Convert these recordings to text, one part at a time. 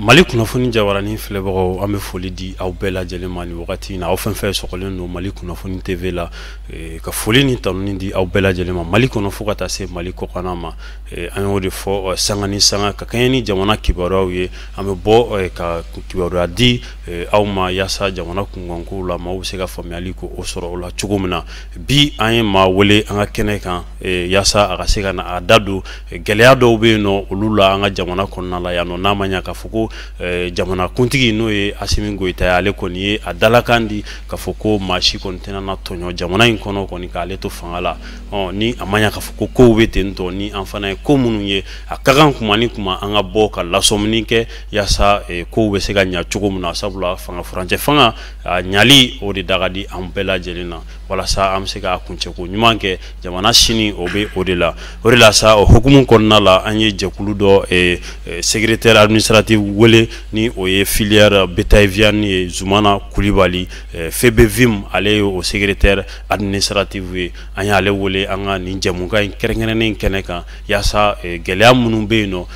Mali kunnafoni jabarani filɛbagaw an bɛ foli di aw bɛɛ lajɛlen ma ni wagati in na aw fɛn fɛn sɔgɔlen don Mali kunnafoni TV la eh, ka foli ni tanuni di aw bɛɛ lajɛlen ma Mali kɔnɔ fo ka taa se Mali kɔkanna ma eh, an y'o de fɔ eh, sanga ni sanga ka kɛɲɛ ni jamana kibaruyaw ye an bɛ bɔ eh, ka kibaruya di eh, aw ma yaasa jamana kunkankow la maaw bɛ se ka faamuyali ko o sɔrɔ o la cogo min na bi an ye maa wele an ka kɛnɛ kan Eh, yaasa a ka se ka na a da don eh, gɛlɛya dɔw bɛ yen nɔ olu la an ka jamana kɔnɔna la yan nɔ n'a ma ɲa k'a fɔ ko eh, jamana kuntigi n'o ye Asimi Goyita ye ale kɔni ye a dalakan di k'a fɔ ko maa si kɔni tɛna na tɔɲɔ jamana in kɔnɔ kɔni k'ale to fanga la ɔ ni a ma ɲa k'a fɔ ko kow bɛ ten tɔ ni an fana ye ko minnu ye a ka kan kuma ni kuma an ka bɔ ka lasɔmini kɛ yaasa kow bɛ se ka ɲa cogo min na sabula fanga furancɛ fanga a ɲali o de da ka di an bɛɛ lajɛlen na walasa an bɛ se k'a kuncɛko ɲuman kɛ jamana sini o bɛ o de la o de la sa o hukumu kɔnɔna la an ye jɛkulu dɔ eh, eh, secrétaire administratif wele ni o ye filière bétail viande ye Zumana Kulibali eh, FEBEVIM ale ye o secrétaire administratif ye an y'ale wele an ka nin jɛmukan in kɛrɛnkɛrɛnnen in kɛnɛ kan yaasa gɛlɛya minnu bɛ yen nɔ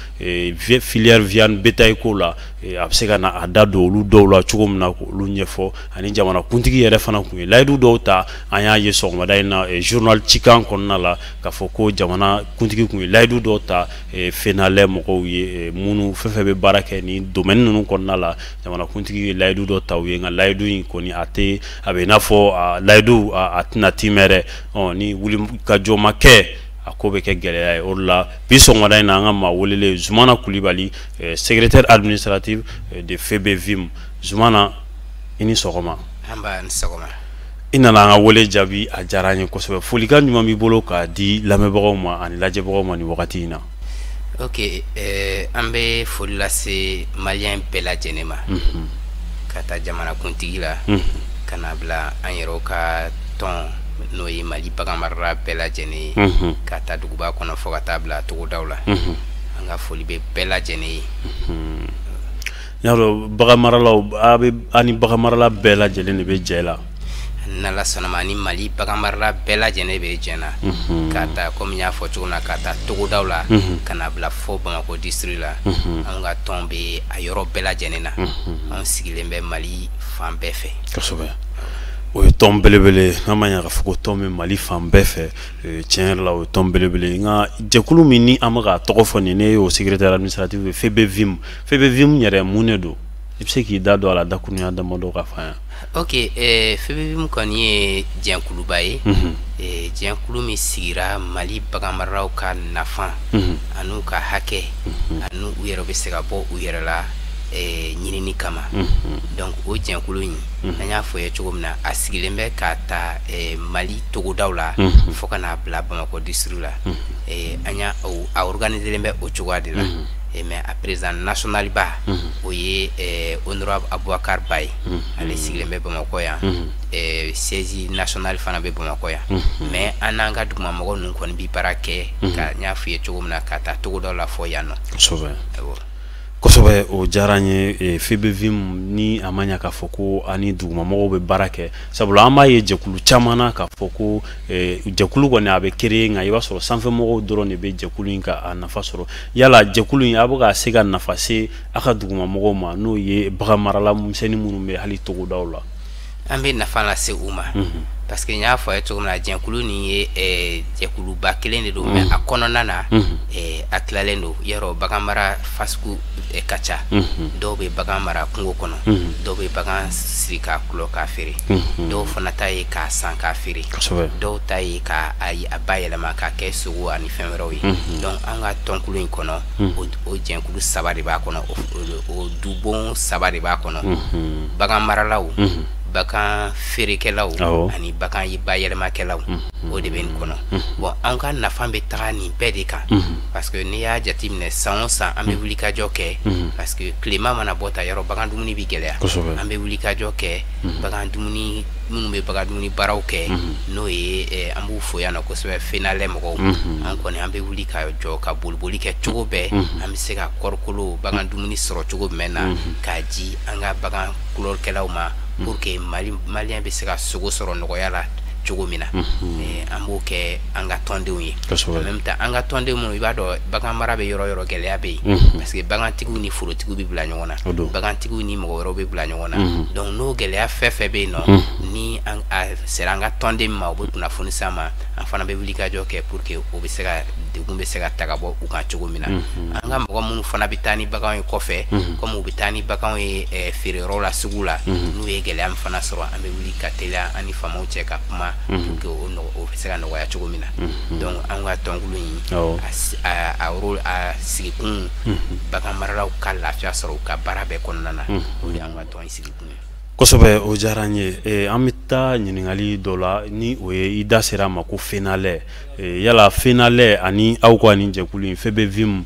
filière viande bétail ko la a bɛ se ka na a da don olu dɔw la cogo min na k'olu ɲɛfɔ ani jamanakuntigi yɛrɛ fana kun ye layidu dɔw ta an y'a ye sɔgɔmada in na eh, journal Cikan kɔnɔna la k'a fɔ ko jamana kuntigi kun ye layidu dɔw ta eh, FENALAIT mɔgɔw ye eh, minnu fɛn fɛn bɛ baara kɛ ni domaine ninnu kɔnɔna la jamanakuntigi ye layidu dɔ ta u ye nka layidu in kɔni a tɛ a bɛ i n'a fɔ layidu a tɛna timɛ dɛ ni wulikajɔ ma kɛ a ko bɛ kɛ gɛlɛya ye o de la bi sɔgɔmada in na an ka maa welelen Zumana Kulibali secrétaire administratif de FEBEVIM Zumana i ni sɔgɔma i nana an ka wele jaabi a diyara an ye kosɛbɛ folikan ɲuman b'i bolo k'a di lamɛnbagaw ma ani lajɛbagaw ma ni wagati in na oke eh, an bɛ foli lase maliyɛn bɛɛ lajɛlen ma mhm. k'a ta jamanakuntigi la mhm. ka na bila an yɛrɛw ka tɔn n'o ye Mali bagan marala bɛɛ lajɛlen ye mhm. k'a ta duguba kɔnɔ fo ka taa bila togodaw la an ka foli bɛ bɛɛ lajɛlen ye I y'a dɔn bagan maralaw a bɛ an ni bagan marala bɛɛ lajɛlen de bɛ jɛ la. N'Ala sɔnna a ma an ni Mali bagan marala bɛɛ lajɛlen bɛ jɛ na. Unhun. K'a ta komi n y'a fɔ cogo min na k'a ta togodaw la. Unhun. Ka na bila fo Bamakɔ district la. Unhun. Anw ka tɔn bɛ a yɔrɔ bɛɛ lajɛlen na. Unhun. Anw sigilen bɛ Mali fan bɛɛ fɛ. Kosɛbɛ. O ye tɔn belebele ye n'a ma ɲɛ k'a fɔ ko tɔn bɛ Mali fan bɛɛ fɛ ee tiɲɛ yɛrɛ la o ye tɔn belebele ye nka jɛkulu min ni an bɛ k'a tɔgɔ fɔ nin ye n'e y'o secrétaire administratif ye FEBEVIM FEBEVIM yɛrɛ mun de don i bɛ se k'i da don a la dakurunya damadɔ k'a fɔ an ye ok FEBEVIM kɔni ye jɛkuluba ye jɛkulu min sigira mali bagan maralaw ka nafa an'u ka hakɛ ani u yɛrɛ bɛ se ka bɔ u yɛrɛ la ɲinin kama donc o jɛkulu in an y'a fɔ ye cogo min na a sigilen bɛ k'a ta mali togodaw la fo ka n'a bila bamakɔ district la an y'a a organiselen bɛ o cogoya de la eh mais a président national ba o ye eh, honorable Aboubacar Ba ye ale sigilen bɛ bamakɔ yan eh, siège national fana bɛ bamakɔ yan mais an n'an ka dugumamɔgɔ ninnu kɔni bi baara kɛ ka n y'a f'i ye cogo min na k'a ta togodaw la fo yan nɔ kosɛbɛ awɔ kosɛbɛ o diyara n ye eh, FEBEVIM ni a ma ɲa k'a fɔ ko a ni dugumamɔgɔw bɛ baara kɛ sabula an b'a ye jɛkulu caman na k'a fɔ ko eh, jɛkulu kɔni a bɛ créer nka i b'a sɔrɔ sanfɛmɔgɔw dɔrɔn de bɛ jɛkulu in ka a nafa sɔrɔ yala jɛkulu in a bɛ ka se ka nafa se a ka dugumamɔgɔw ma n'o ye bagan marala misɛnnin minnu bɛ hali togodaw la an bɛ nafa lase u ma mhm. parce que n y'a fɔ a ye cogo min na jɛkulu nin ye eh, jɛkuluba kelen de don mais mhm. a kɔnɔna na mhm. eh, a tilalen don yɔrɔ bagan mara fasugu eh, ka ca dɔw bɛ bagan mara kungo kɔnɔ dɔw bɛ bagan siri k'a kulɔ k'a feere dɔw fana ta ye k'a san k'a feere dɔw ta ye k'a a bayɛlɛma k'a kɛ sogo ani fɛn wɛrɛw ye donc an ka tɔnkulu in kɔnɔ o jɛnkulu saba de b'a kɔnɔ o dubon saba de b'a kɔnɔ bagan maralaw bagan feerekɛlaw ani bagan bayɛlɛmakɛlaw o de bɛ nin kɔnɔ bon an ka nafa bɛ taga nin bɛɛ de kan parce que n'i y'a jateminɛ san o san an bɛ wulikajɔ kɛ parce que tilema mana bɔ ta yɔrɔ bagan dumuni bɛ gɛlɛya an bɛ wulikajɔ kɛ bagan dumuni minnu bɛ bagan dumuni baaraw kɛ n'o ye eh, an b'u fo yan nɔ kosɛbɛ FENALE mɔgɔw an kɔni an bɛ wuli ka jɔ ka boliboli kɛ cogo bɛɛ an bɛ se ka kɔɔrikolo bagan dumuni sɔrɔ cogo jumɛn na k'a di an ka bagan kulɔlikɛlaw ma pour que mali maliyɛn bɛ se ka sogo sɔrɔ nɔgɔya la cogo min na Eh, an b'o kɛ an ka tɔndenw ye Kosɛbɛ. En même temps, an ka tɔnden minnu i b'a dɔn bagan mara bɛ yɔrɔ yɔrɔ gɛlɛya bɛ yen parce que bagantigiw ni forotigiw bɛ bila ɲɔgɔn na O don. bagantigiw ni mɔgɔ wɛrɛw bɛ bila ɲɔgɔn ɲɔgɔn na mhm. donc n'o gɛlɛya fɛn fɛn bɛ yen nɔ mhm. ni a sera an ka tɔnden ma u bɛ kunnafoni s'an ma an fana bɛ wulikajɔ kɛ pour que o bɛ se ka degun bɛ se ka ta ka bɔ u kan cogo min na mhm. an ka mɔgɔ minnu fana bɛ taa ni baganw ye kɔfɛ komi u bɛ taa ni baganw ye eh, feereyɔrɔ la sugu la n'u ye gɛlɛya min fana sɔrɔ an bɛ wuli ka teliya an ni faamaw cɛ ka kuma pour que o nɔgɔ o bɛ se ka nɔgɔya cogo min na donc an ka tɔnkulu in a a a sigikun bagan maralaw ka lafiya sɔrɔ u ka baara bɛɛ kɔnɔna na Kosɛbɛ o diyara n ye an bɛ taa ɲininkali dɔ la ni o ye i da sera a ma ko fenalait yala fenalait ani aw ka nin jɛkulu in febevim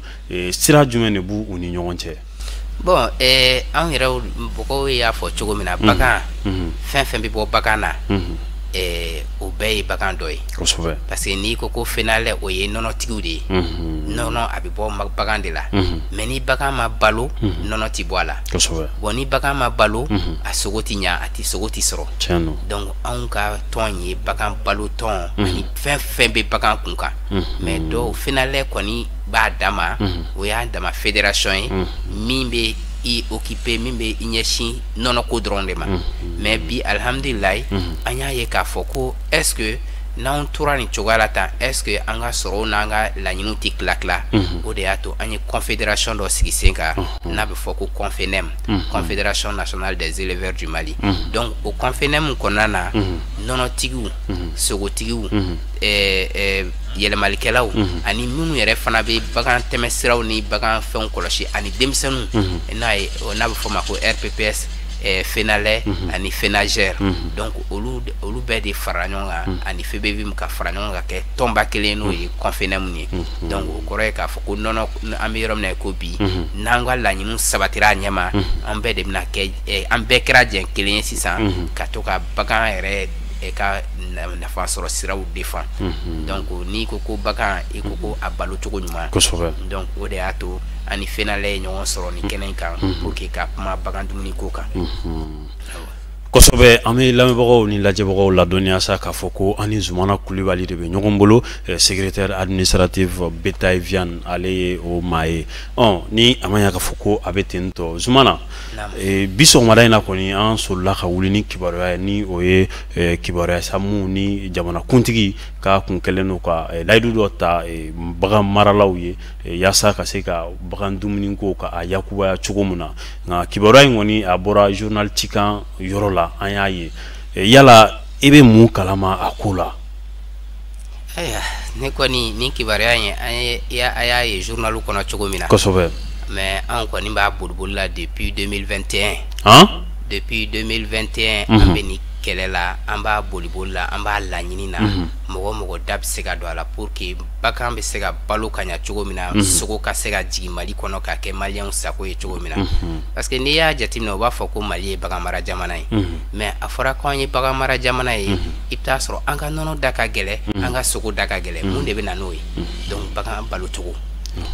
sira jumɛn de b'u ni ɲɔgɔn cɛ bon an yɛrɛ mɔgɔw y'a fɔ cogo min na bagan fɛn fɛn bɛ bɔ bagan na o bɛɛ ye bagan dɔ ye parce que n'i ko ko fenalait o ye nɔnɔtigiw de ye nɔnɔ bɔ bagan de la mhm. mais ni bagan ma balo mhm. nɔnɔ tɛ bɔ a la bon ni bagan ma balo mhm. a sogo tɛ ɲa a tɛ sogo tɛ sɔrɔ donc anw ka tɔn ye bagan balo tɔn ani fɛn fɛn bɛ bagan kun kan mais dɔw fenalait kɔni b'a dama o y'a dama fédération ye min bɛ i occuper min bɛ i ɲɛsin nɔnɔko dɔrɔn de ma mais bi alihamdulilayi an y'a ye k'a fɔ ko est ce que n'an tora nin cogoya la tan est ce que an ka sɔrɔw n'an ka laɲiniw tɛ tila tila o de y'a to an ye confédération dɔ sigi sen kan n'a bɛ fɔ ko confenem confédération nationale des éleveurs du mali donc o confenem kɔnɔna na nɔnɔtigiw sogotigiw yɛlɛmalikɛlaw ani minnu yɛrɛ fana bɛ bagan tɛmɛsiraw ni bagan fɛnw kɔlɔsi ani denmisɛnninw n'a ye n'a bɛ fɔ ma ko rpps fenalait ani fenajer donc olu bɛɛ de fara ɲɔgɔn kan hmm. ani febevim ka fara ɲɔgɔn ka kɛ tɔnba kelen n'o ye confenem ye hmm. donc o kɔrɔ ye k'a fɔ ko nɔnɔ an bɛ yɔrɔ min na ko bi n'an ka laɲiniw sabatira a ɲɛma an bɛɛ de bɛna kɛ eh, an bɛɛ kɛra jɛn kelen ye sisan ka to ka bagan yɛrɛ e ka nafa sɔrɔ siraw défendre donc n'i ko ko bagan i ko ko a balo cogo ɲuman donc o de y'a to an ni fenalait ye ɲɔgɔn sɔrɔ nin kɛnɛ kan pour que ka kuma bagan dumuni ko kan kosɛbɛ an bɛ lamɛnbagaw ni lajɛbagaw ladɔnniya sa k'a fɔ ko an ni zumana kulibali de bɛ ɲɔgɔn bolo secrétaire administratif bétail viande ale ye o maa ye ɔ ni a ma ɲɛ k'a fɔ ko a bɛ ten tɔ zumana bi sɔgɔmada in na kɔni an solila ka wuli ni kibaruya ye ni o ye kibaruya samu ni jamanakuntigi ka kun kɛlen don ka layidu dɔ ta bagan maralaw ye yaasa ka se ka bagan dumuni ko ka a yakubaya cogo min na nka kibaruya in kɔni a bɔra journal cikan yɔrɔ la an y'a ye eh, yala i bɛ mun kalama a ko la ayiwa ne kɔni nin kibaruya in an ye a y'a ye journal kɔnɔ cogo min na kosɛbɛ mais an kɔni b'a boliboli la depuis 2021 han depuis 2021 an mhm. bɛ nin kɛlɛ la an b'a boliboli la an b'a laɲini na mhm. mɔgɔ o mɔgɔ da bɛ se ka don a la pour que bagan bɛ se ka balo ka ɲa cogo min na mhm. sogo ka se ka jigin mali kɔnɔ k'a kɛ maliyɛnw sago ye cogo min na mhm. parce que n'i y'a jateminɛ u b'a fɔ ko mali ye baganmara jamana ye mhm. mais a fɔra ko an ye baganmara jamana ye i bɛ t'a sɔrɔ an ka nɔnɔ da ka gɛlɛ an ka sogo da ka gɛlɛ mun de bɛ na n'o ye donc bagan balo cogo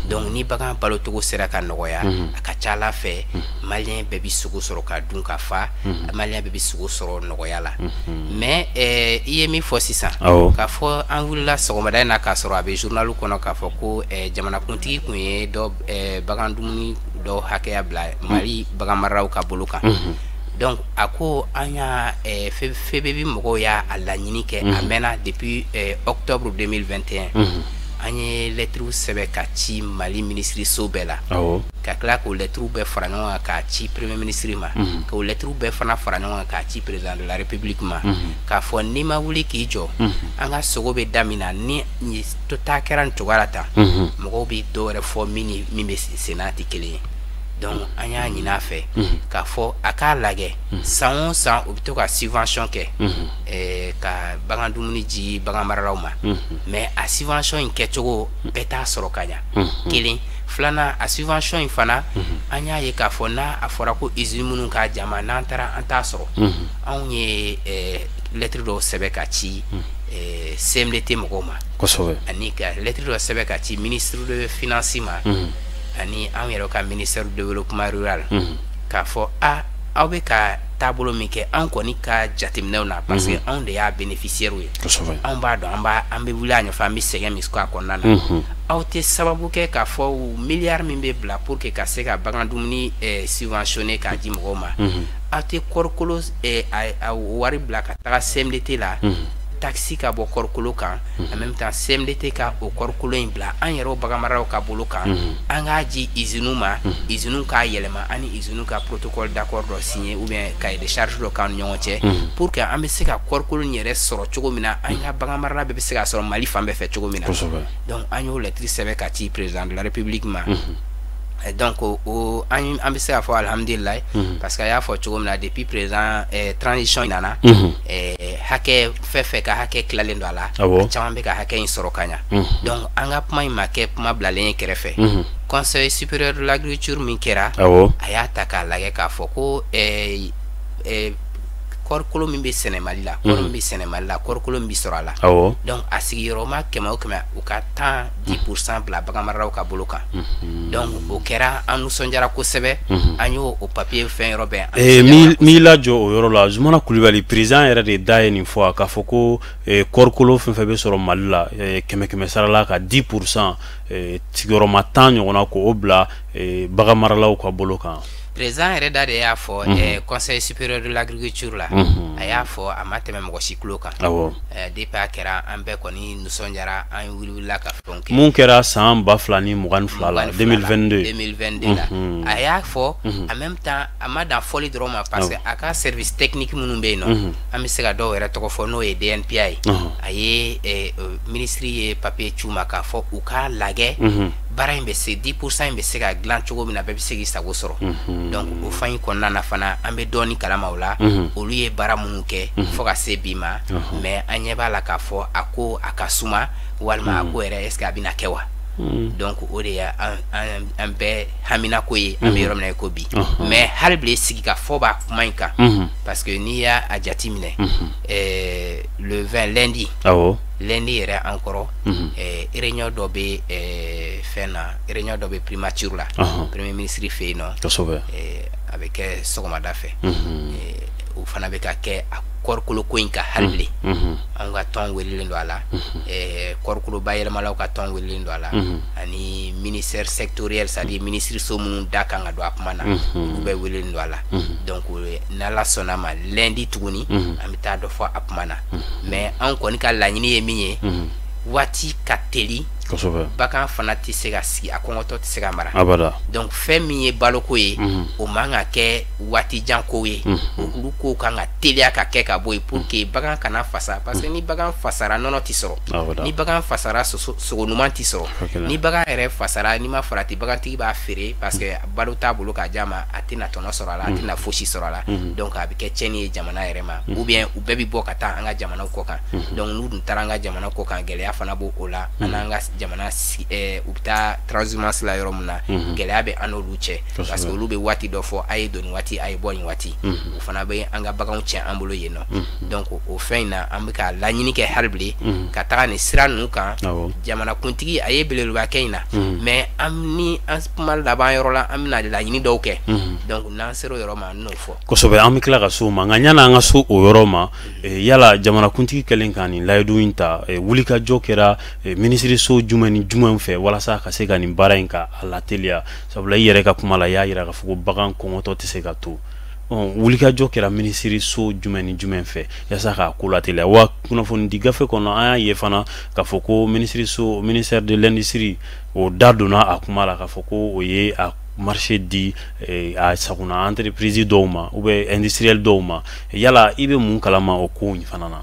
donc ni bagan balo cogo sera ka nɔgɔya a ka ca ala fɛ maliyɛn bɛɛ bɛ sogo sɔrɔ ka dun ka fa Mhm. maliyɛn bɛɛ bɛ sogo sɔrɔ nɔgɔya la mhm. mais eh, i ye min fɔ sisan k'a fɔ an wulila sɔgɔmada in na k'a sɔrɔ a bɛ journalu kɔnɔ k'a fɔ ko eh, jamanakuntigi tun ye dɔ eh, bagan dumuni dɔ hakɛya bila mhm. mali bagan mararaw ka bolo kan donc a ko an y'a FEBEVIM mɔgɔw y'a laɲini kɛ a mɛnna depuis octobre 2021 an ye lɛtiriw sɛbɛn ka ci mali minisiriso bɛɛ la ka tila k'o lɛtiriw bɛɛ fara ɲɔgɔn kan k'a ci premier ministre ma mhm. k'o lɛtiriw bɛɛ fana fara ɲɔgɔn kan k'a ci président de la république ma mhm. k'a fɔ n'i ma wuli k'i jɔ mhm. an ka sogo bɛ da min na ni to taa kɛra nin cogoya la tan mɔgɔw bɛ dɔ wɛrɛ fɔ min ni min bɛ sen na tɛ kelen ye donc an y'a ɲini a fɛ k'a fɔ a k'a lajɛ san o san u bɛ to ka subvention kɛ eh, ka bagan dumuni di bagan maralaw ma mais a subvention in kɛcogo bɛɛ t'a sɔrɔ ka ɲa kelen filanan a subvention in fana an y'a ye k'a fɔ n'a a fɔra ko usine minnu k'a d'an ma n'an taara an t'a sɔrɔ anw ye eh, lɛtiri dɔw sɛbɛ ka ci eh, CMDT mɔgɔw ma kosɛbɛ ani ka lɛtiri dɔ sɛbɛ ka ci ministre de finance ma ani anw yɛrɛ ka ministère du développement rural k'a fɔ a aw bɛ ka taabolo min kɛ an kɔni ka jateminɛw na parce que anw de y'a bénéficiaire ye anw b'a dɔn an b'a an bɛ wuli a ɲɛfɛ an bɛ sɛgɛn min k'a kɔnɔna na aw tɛ sababu kɛ k'a fɔ miliyari min bɛ bila pour que ka se ka bagan dumuni eh, subventionner k'a di mɔgɔw ma aw tɛ kɔrikolo eh, a wari bila ka taga CMDT la taxe ka bɔ kɔrikolo kan en même temps CMDT ka o kɔrikolo in bila an yɛrɛw baganmaraw ka bolo kan an k'a di usines ma usines k'a yɛlɛma an ni n'u ka protocole d'accord dɔ signer ou bien cahier de charge dɔ k'an ni ɲɔgɔn cɛ mhm. pour que an bɛ se ka kɔɔrikolo in yɛrɛ sɔrɔ cogo min na an ka bagan marala bɛɛ bɛ se ka sɔrɔ Mali fan bɛɛ fɛ cogo min na donc an y'o lɛtiri sɛbɛn ka ci président de la république ma mhm. eh, donc o an an bɛ se k'a fɔ alihamudulilayi mhm. parce que a y'a fɔ cogo min na depuis président eh, transition in nana eh, hakɛ fɛn fɛn ka hakɛ tilalen don a la a caman bɛ ka hakɛ in sɔrɔ ka ɲa donc an ka kuma in ma kɛ kuma bilalen ye kɛrɛfɛ conseil supérieur de l'agriculture min kɛra a y'a ta k'a lagɛ k'a fɔ ko eh, eh, kɔrikolo min bɛ sɛnɛ mali la kɔri min bɛ sɛnɛ mali la kɔrikolo min bɛ sɔrɔ a la donc a sigiyɔrɔma kɛmɛ o kɛmɛ u ka tan 10 mhm. pourcent bila baganmaralaw ka bolo kan mhm. donc o kɛra an nisɔndiyara kosɛbɛ mhm. an y'o o papiye fɛn yɔrɔ bɛɛ eh, m'i lajɔ o yɔrɔ la zumana kulubali président yɛrɛ de da ye nin fɔ a k'a fɔ ko eh, kɔɔrikolo fɛn fɛn bɛ sɔrɔ mali la eh, kɛmɛ kɛmɛ sara la ka 10 pourcent sigiyɔrɔma tan ɲɔgɔnna k'o bila baganmaralaw ka bolo kan président yɛrɛ da de y'a fɔ mhm. eh, conseil supérieur de l'agriculture la mhm. a y'a fɔ a ma tɛmɛ mɔgɔ si tulo kan eh, depuis a kɛra an bɛɛ kɔni nisɔndiyara an wulila ka fɛnw kɛ mun kɛra san ba fila ni mugan ni fila la 2022 2022 la mhm. a y'a fɔ mhm. en même temps a ma dan fɔli dɔrɔn ma parce que a ka service technique minnu bɛ yen nɔ mhm. an bɛ se ka dɔw yɛrɛ tɔgɔ fɔ n'o ye DNPA ye a ye eh, eh, minisiri ye papiye ci u ma k'a fɔ u k'a lajɛ baara in bɛ se 10 pourcent in bɛ se ka dilan cogo min na bɛɛ bɛ se k'i sago sɔrɔ mhm. donc o fan in kɔnɔna na fana an bɛ dɔɔni kalama o la mhm. olu ye baara minnu kɛ mhm. fo ka se bi ma mais an ɲɛ b'a la k'a fɔ a ko a ka suma walima a ko yɛrɛ est ce que a bɛna kɛ wa donc o de ye an bɛɛ haminako ye an bɛ yɔrɔ min na i ko bi mais hali bilen sigikafɔ b'a kuma in kan parce que n'i y'a jate minɛ le 20 lundi lundi yɛrɛ an kɔrɔ mhm. eh, réunion dɔ bɛ eh, fɛn na réunion dɔ bɛ primature la premier ministre fɛ yen nɔ kosɛbɛ eh, a bɛ kɛ sɔgɔmada fɛ mhm. o fana bɛ ka kɛ a kɔɔrikolo ko in kan hali bilen mhm. anw ka tɔn welilen don a la kɔɔrikolo bayɛlɛmalaw ka tɔn welilen don a la ani ministère sectoriel c'est à dire ministre so minnu da kan ka don a kuma na olu bɛɛ welilen don a la donc n'ala sɔnna a ma lundi tuguni an bɛ taa dɔ fɔ a kuma na mais an kɔni ka laɲini ye min ye waati ka teli bagan fana tɛ se ka sigi a kɔngɔtɔ tɛ se ka mara donc fɛn min ye baloko ye o man ka kɛ waati jan ko ye olu ko kan ka teliya ka kɛ ka bɔ yen pour que bagan kana fasa parce que ni bagan fasara nɔnɔ tɛ sɔrɔ ni bagan fasara sogo ɲuman tɛ sɔrɔ ni bagan yɛrɛ fasara n'i ma farati bagantigi b'a feere parce que balo t'a bolo k'a d'a ma a tɛna tɔnɔ sɔrɔ a la a tɛna fosi sɔrɔ a la donc a bɛ kɛ tiɲɛni ye jamana yɛrɛ ma mhm. ou bien u bɛɛ bi bɔ ka taa an ka jamana kɔ kan mhm. donc n'u dun taara an ka jamana kɔ kan gɛlɛya fana b'o o la an n'an ka jamana eh, u bɛ taa transhumance la yɔrɔ min na gɛlɛya bɛ an n'olu cɛ parce que olu bɛ waati dɔ fɔ a ye don nin waati a ye bɔ nin waati o fana bɛ an ka baganw tiɲɛ an bolo yen nɔ donc o fɛn in na an bɛ ka laɲini kɛ hali bi ka taga nin sira ninnu kan jamanakuntigi a ye belebeleba kɛ in na mais an ni an kuma laban yɔrɔ la an bɛna laɲini dɔw kɛ donc n'an sera o yɔrɔ ma kosɛbɛ an bɛ tila ka s'o ma nka yanni an ka se o yɔrɔ ma eh, yala jamanakuntigi kɛlen ka nin layidu in ta eh, wulikajɔ kɛra eh, minisiriso jumɛn ni jumɛn fɛ walasa ka se ka nin baara in ka a lateliya sabula i yɛrɛ ka kuma la i y'a yira k'a fɔ ko bagan kɔngɔtɔ tɛ se ka to wulikajɔ kɛra minisiriso jumɛn ni jumɛn fɛ yasa k'a ko lateliya wa kunnafonidi gafe kɔnɔ an y'a ye fana k'a fɔ ko ministère de l'industrie o da donna a kuma la k'a fɔ ko o ye a marché di eh, a sago na entreprise dɔw ma ou bien industriel dɔw ma yala i bɛ mun kalama o ko in fana na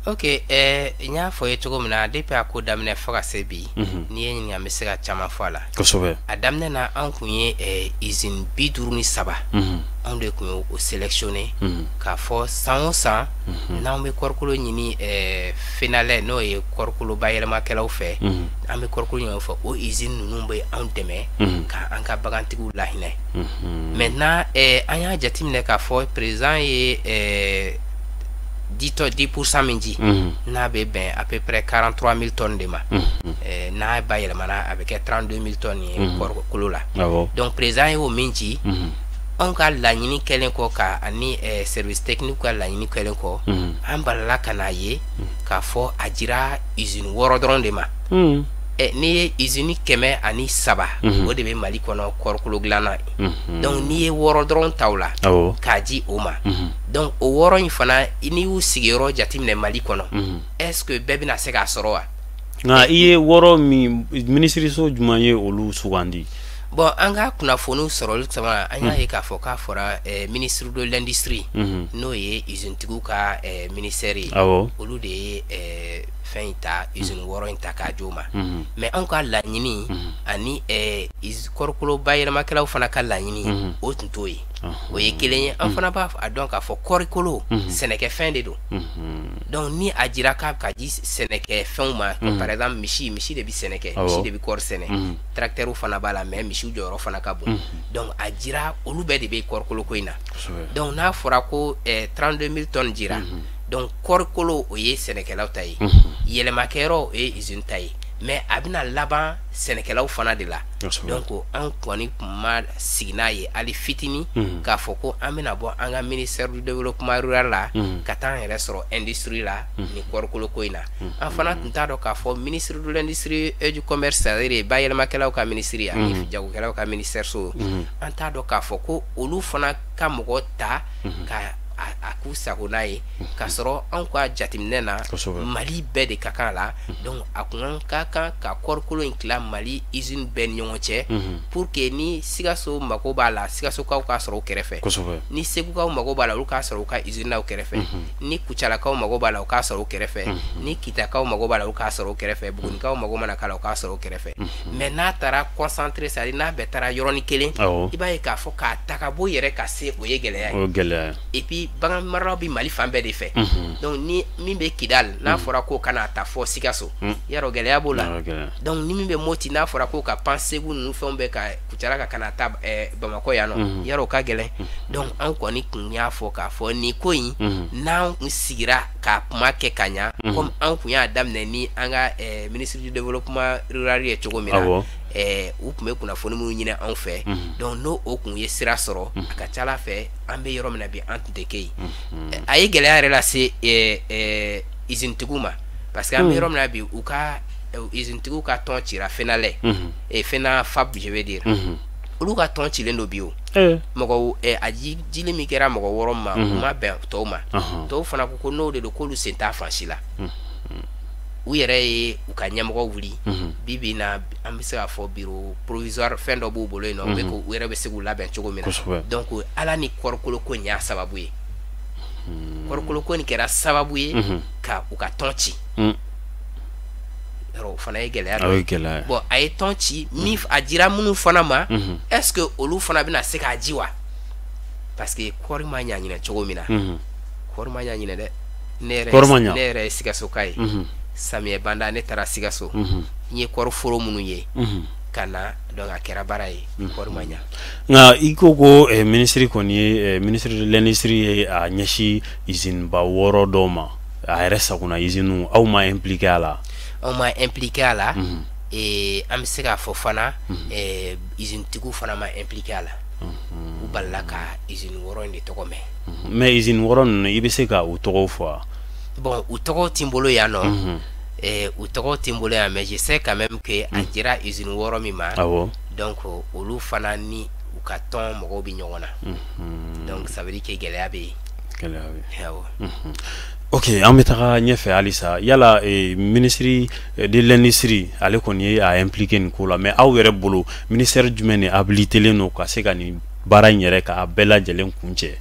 ok eh, n y'a fɔ ye cogo min na depuis a ko daminɛ fo ka se bi mhm. n'i ye n ɲininka n bɛ se ka caman fɔ a la kosɛbɛ a daminɛ na an tun ye eh, izini bi duuru ni saba mhm. anw de tun ye o sélectionné mhm. k'a fɔ san o san n'an bɛ kɔrikolo ɲini FENALAIT n'o ye kɔrikolo bayɛlɛmakɛlaw fɛ an bɛ kɔrikolo ɲini fo o izini ninnu bɛ anw dɛmɛ ka an ka bagantigiw lainɛ mɛ n' an y'a jateminɛ k'a fɔ perez ye ditɔ diusa min ji n'a bɛ bɛn a bɛpɛ karantura mi de ma n'a ba yɛlɛmana a bɛ kɛ trandenw mi ye kolo la dɔnku perez ye oo min ci anw ka laɲini kɛlen kɔ ka ani sɛbɛnni ka laɲini kɛlen kɔ an balala ka' a ye k'a fɔ a jirara z wɔɔrɔ dɔrɔn de ma Eh, n'i ye izini kɛmɛ ani saba mhm. o de bɛ mali kɔnɔ kɔrikolo dilanna mhm. dɔnku n'i ye wɔɔrɔ dɔrɔn ta o la k'a di o ma mhm. dɔnku o wɔɔrɔ in fana n'i y'u sigiyɔrɔ jateminɛ mali kɔnɔ est-ce que bɛɛ bɛna se k'a sɔrɔ wa nka i ye wɔɔrɔ min minisiriso jumɛn ye olu sugandi bon an ka kunnafoniw sɔrɔli caman an y'a ye k'a fɔ k'a fɔra eh, ministre de l'industrie n'o ye izinitigiw ka eh, ministère ye olu de ye fɛn in ta usine mm. wɔɔrɔ in ta k'a d'o ma mm-hmm. mais anw ka laɲini mm-hmm. ani eh, kɔrikolo bayɛlɛmakɛlaw fana ka laɲini mm-hmm. o tun t'o ye uh-huh. o ye kelen ye an fana b'a dɔn k'a fɔ kɔrikolo sɛnɛkɛfɛn de don donc ni a jira k'a bɛ ka di sɛnɛkɛfɛnw ma par exemple misi misi de bɛ sɛnɛ kɛ misi de bɛ kɔɔri sɛnɛ tracteur fana b'a la mais misiw jɔyɔrɔ fana ka bon donc a jira olu bɛɛ de bɛ kɔrikolo ko in na donc n'a fɔra ko 32 eh, 000 tonnes jira donc kɔrikolo o ye sɛnɛkɛlaw ta ye yɛlɛmakɛyɔrɔ o ye izini ta ye mais a bɛna laban sɛnɛkɛlaw fana de la donc an kɔni tun ma sigi n'a ye hali fitinin k'a fɔ ko an bɛna bɔ an ka ministère du développement rural la ka taa an yɛrɛ sɔrɔ industrie la ni kɔrikolo ko in na an fana tun t'a dɔn k'a fɔ ministre de l'industrie et du commerce c'est-à-dire bayɛlɛmakɛlaw ka minisiri ani jagokɛlaw ka minisɛriso an t'a dɔn k'a fɔ ko olu fana ka mɔgɔ ta ka a k'u sago n'a ye k'a sɔrɔ anw ka jateminɛ na mali bɛɛ de ka kan la donc a kun an ka kan ka kɔɔrikolo in tila mali usine bɛɛ ni ɲɔgɔn cɛ pour que ni sikaso mago b'a la sikasokaw k'a sɔrɔ u kɛrɛfɛ ni segukaw mago b'a la olu k'a sɔrɔ u ka usine na u kɛrɛfɛ ni kucalakaw mago b'a la u k'a sɔrɔ u kɛrɛfɛ ni kitakaw mago b'a la u k'a sɔrɔ u kɛrɛfɛ bugunikaw mago mana k'a la u k'a sɔrɔ u kɛrɛfɛ mais n'a taara concentré c'est à dire n'a bɛɛ taara yɔrɔnin kelen i b'a ye k'a fɔ k'a ta ka bɔ i yɛrɛ ka se o ye gɛlɛya ye o gɛlɛya et puis bagan maralaw bɛ Mali fan bɛɛ de fɛ mhm. donc ni min bɛ Kidal n'a mhm. fɔra k'o ka n'a ta fɔ Sikaso mhm. yarɔ gɛlɛya b'o la donc ni min bɛ Moti n'a fɔra k'o ka pan Segu ninnu fɛnw bɛɛ kan Kucala kan ka n'a ta eh, Bamakɔ yan nɔ yarɔ o ka gɛlɛn donc an kɔni kun y'a fɔ k'a fɔ nin ko in n'an kun sigira k'a kuma kɛ ka ɲa comme an kun y'a daminɛ ni an ka eh, ministre du développement rural ye cogo min na eh, u kun bɛ kunnafoni minnu ɲini anw fɛ mhm. donc n'o o kun ye sira sɔrɔ mhm. a ka ca a la fɛ an bɛ yɔrɔ min na bi an tun tɛ kɛ yen mhm. eh, a ye gɛlɛya yɛrɛ lase eh, eh, izinitigiw ma parce que an bɛ yɔrɔ min na bi u ka izinitigiw ka tɔn cira fenalait fenaphab je veux dire olu ka tɔn cilen don bi o mɔgɔ a dili min kɛra mɔgɔ wɔɔrɔ ma u ma bɛn tɔw ma tɔw fana ko ko n'o de don k'olu sen t'a fan si la u yɛrɛ ye u ka ɲɛmɔgɔ wuli bibi na an bɛ se k'a fɔ bureau provisoire fɛn dɔ b'u bolo yen nɔ u yɛrɛ bɛ se k'u labɛn cogo min na donc ala ni kɔɔrikolo ko nin y'a sababu ye kɔɔrikolo ko nin kɛra sababu ye ka u ka tɔn ci o fana ye gɛlɛya dɔ ye bon a ye tɔn ci min a dira minnu fana ma est-ce que olu fana bɛna se k'a di wa parce que kɔɔri ma ɲa ɲinɛ cogo min na kɔɔri ma ɲa ɲinɛ dɛ ne yɛrɛ ye sikasoka ye samiyɛ banda ne taara sikaso n ye kɔɔri foro minnu ye ka na donc a kɛra baara ye kɔɔri ma ɲa nka i ko ko eh, minisiri kɔni ye eh, ministre de l'industrie ye a ɲɛsin usine ba wɔɔrɔ dɔw ma a yɛrɛ sago na usine aw ma impliqué a la aw ma impliqué a la eh, an bɛ se k'a fɔ fana eh, usine tigiw fana ma impliqué a la u balala ka usine wɔɔrɔ in de tɔgɔ mɛn mais izini wɔɔrɔ ninnu i bɛ se ka u tɔgɔw fɔ wa. bon u tɔgɔw tɛ n bolo yan nɔ. Mhm. Eh, u tɔgɔw tɛ n bolo yan mais je sais quand même que a mhm. dira izini wɔɔrɔ min ma. awɔ donc olu fana ni u ka tɔn mɔgɔw bɛ ɲɔgɔn na. Mhm. donc ça veut dire que gɛlɛya bɛ yen. gɛlɛya bɛ yen. awɔ. ok an bɛ taga ɲɛfɛ halisa yala eh, ministre eh, de l'industrie ale kɔni ye a impliqué nin ko la mais aw yɛrɛ bolo ministère jumɛn de habilitelen don ka se ka nin baara in yɛrɛ k'a bɛɛ lajɛlen kuncɛ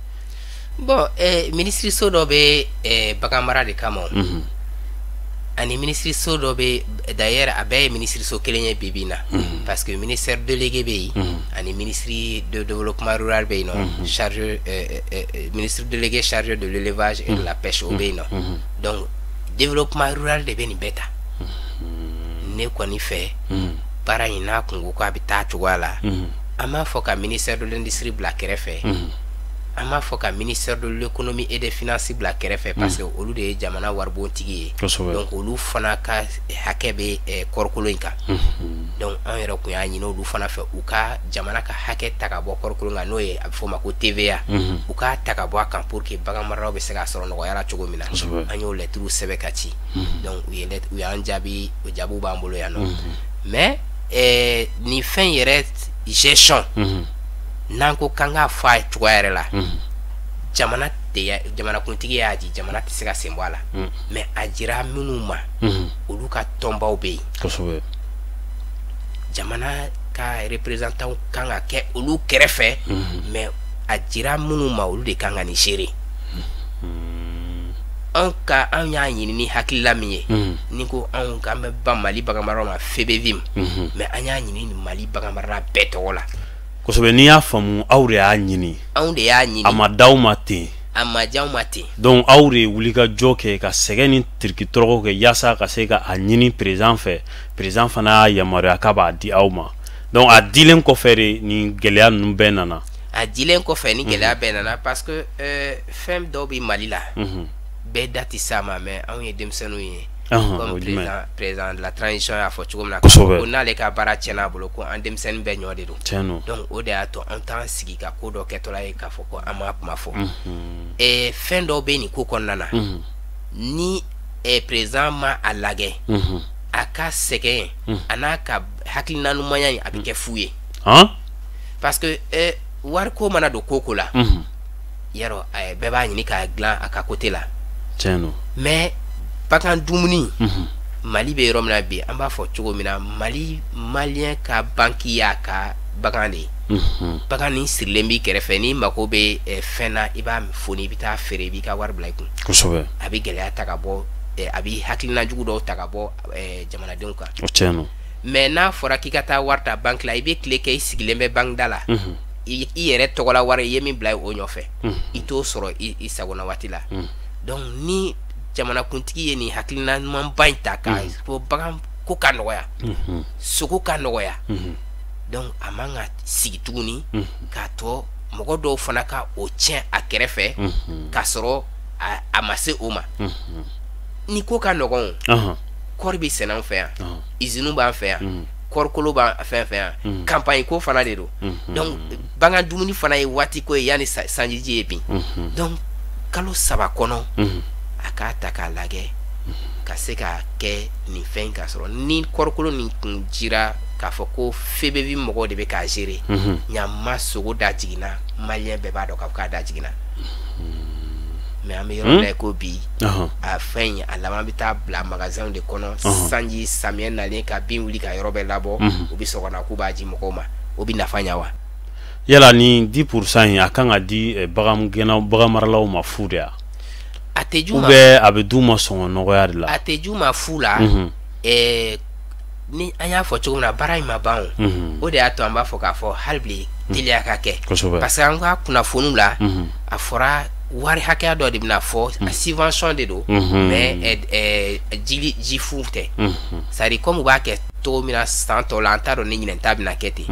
bon eh, minisiriso dɔ bɛ eh, bagan mara de kama mm -hmm. ani minisiriso dɔ bɛ d'ailleurs a bɛɛ ye minisiriso kelen ye bi bi in na mm -hmm. parce que ministère délégué bɛ yen mm -hmm. ani ministre de développement rural bɛ yen nɔ mm -hmm. chargé eh, eh, eh, ministre délégué chargé de l'élevage et de la pêche o bɛ yen nɔ mm -hmm. donc développement rural de bɛ nin bɛɛ ta ne kɔni fɛ baara in n'a kun ko k'a bɛ taa cogoya la an b'a fɔ ka ministère de l'industrie bila kɛrɛfɛ an b'a fɔ ka ministère de l'économie et des finances bila kɛrɛfɛ parce que olu de ye jamana waribontigi ye Kosɛbɛ. donc olu fana ka hakɛ bɛ eh, kɔɔrikolo in kan donc an yɛrɛ kun y'a ɲini olu fana fɛ u ka jamana ka hakɛ ta ka bɔ kɔɔrikolo in kan n'o ye a bɛ f'o ma ko TVA u k'a ta ka bɔ a kan pour que bagan maralaw bɛ se k'a sɔrɔ nɔgɔya la cogo min na Kosɛbɛ. an y'o lɛtiriw sɛbɛn ka ci donc u ye lɛt- u y'an jaabi o jaabiw b'an bolo yan nɔ mais ɛɛ nin fɛn yɛrɛ gestion mhm. n'an ko k'an k'a fɔ a ye cogoya yɛrɛ la mhm. jamana tɛ jamanakuntigi y'a di jamana tɛ se ka sen bɔ a la mhm. mais a jira minnu ma olu ka tɔnbaw bɛ yen jamana ka représentant kan ka kɛ olu kɛrɛfɛ mais a jira minnu ma olu de kan ka nin gérer an ka an y'a ɲini ni hakilila min ye ni ko anw ka an bɛ ba mali bagan mara ma FEBEVIM mais an y'a ɲini ni mali bagan marala bɛɛ tɔgɔ la kosɛbɛ n'i y'a faamu aw de y'a ɲini anw de y'a ɲini a ma d'aw ma ten a ma j'an ma ten donc aw de ye wuli ka jɔ kɛ ka sɛgɛn ni tirikitɔrɔgɔ kɛ yaasa ka se ka a ɲini président fɛ président fana y'a yamaruya k'a b'a di aw ma donc a dilen kɔfɛ de nin gɛlɛya ninnu bɛɛ nana a dilen kɔfɛ nin gɛlɛya bɛɛ nana parce que euh, fɛn dɔw bɛ Mali la bɛɛ da tɛ s'a ma mais anw ye denmisɛnninw ye comme président président de la transition y'a fɔ cogo min na ko n'ale ka baara tiɲɛna a bolo ko an denmisɛnnin bɛɛ ɲɔ de don tiɲɛ don donc o de y'a to an t'an sigi ka ko dɔ kɛtɔla ye k'a fɔ ko an m'a kuma fɔ eh, fɛn dɔw bɛ nin ko kɔnɔna na ni eh, président ma a lagɛ a ka sɛgɛn a n'a ka hakilina ɲumanya in a bɛ kɛ fu ye parce que eh, wari ko mana don ko ko la yarɔ eh, bɛɛ b'a ɲini k'a dilan a ka côté la mais bagan dumuni mali bɛ yɔrɔ min na bi an b'a fɔ cogo min na mali malien ka banki y'a ka bagan de ye bagan nin sirilen b'i kɛrɛfɛ n'i mago bɛ eh, fɛn na i b'a foni i bɛ taa feere i b'i ka wari bila i kun kosɛbɛ a bɛ gɛlɛya ta ka bɔ eh, a bɛ hakilina jugu dɔw ta ka bɔ eh, jamanadenw kan o tiɲɛ don mais n'a fɔra k'i ka taa wari ta banki la i bɛ tile kɛ i sigilen bɛ banki da la i yɛrɛ tɔgɔla wari i ye min bila o nɔfɛ i t'o sɔrɔ i sagona waati la donc ni jamanakuntigi ye nin hakilina ɲumanba in ta k'a fɔ bagan ko ka nɔgɔya sogo ka nɔgɔya donc a man ka sigi tuguni k'a to mɔgɔ dɔw fana ka o tiɲɛ a kɛrɛfɛ k'a sɔrɔ a ma se o ma ni ko ka nɔgɔn kɔɔri bɛ sɛnɛ an fɛ yan izini b'an fɛ yan kɔɔrikolo b'an fɛ fɛ yan campagne ko fana de don donc bagan dumuni fana ye waati ko ye yanni sanjiji ye bin donc kalo saba kɔnɔ a k'a ta k'a lajɛ ka se ka kɛ nin fɛn ka sɔrɔ ni kɔɔrikolo nin kun jira k'a fɔ ko FEBEVIM mɔgɔw de bɛ k'a gérer ɲama sogo da jiginna malien bɛɛ b'a dɔn k'a fɔ k'a da jiginna mais an bɛ yɔrɔ min na i ko bi a fɛn in a laban bɛ taa bila magasinw de kɔnɔ sanji samiyɛ nalen ka bin wuli ka yɔrɔ bɛɛ labɔ u bɛ sɔrɔ ka na k'u b'a ji mɔgɔw ma o bɛ nafa ɲɛ wa yala ni dix pour cent in a kan ka di eh, bagan maralaw ma fu de ya ou bien a bɛ d'u ma sɔngɔ nɔgɔya de la a tɛ j'u ma fu la mhm. eh, ni an y'a fɔ cogo min na baara in ma ban o mhm. o de y'a to an b'a fɔ k'a fɔ hali bi mhm. teliya ka kɛ parce que an ka kunnafoniw la mhm. a fɔra wari hakɛya dɔ de bɛna fɔ a subvention de don mais eh, eh, jili ji fu tɛ c'est à dire comme u b'a kɛ cogo min na san tɔw la an t'a dɔn ni ɲinɛn ta bɛna kɛ ten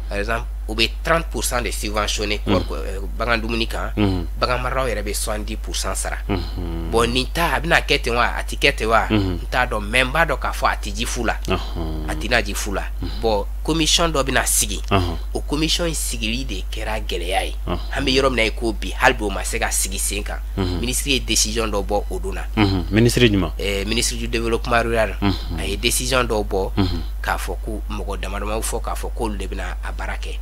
par exemple u bɛ 30 pour cent de subventionner kɔɔri ko ɛɛ bagan dumuni kan. Unhun. Bagan maralaw yɛrɛ bɛ 70 pour cent sara. Unhun. Bon nin ta a bɛna kɛ ten wa a tɛ kɛ ten wa. Unhun. N t'a dɔn mais n b'a dɔn k'a fɔ a tɛ ji fu la. Ɔhɔn. A tɛna ji fu la. Bon commission dɔ bɛna sigi. Ɔhɔn. O commission in sigili de kɛra gɛlɛya ye. Ɔhɔn. An bɛ yɔrɔ min na i ko bi hali bi o ma se ka sigi sen kan. Unhun. Minisiri ye décision dɔ bɔ o don na. Unhun. Minisiri jumɛn? Ɛɛ minisiri du développement rural. Unhun. A ye décision dɔw bɔ. Unhun. k'a fɔ ko mɔgɔ damadamaw fɔ k'a fɔ k'olu de bɛna a baara kɛ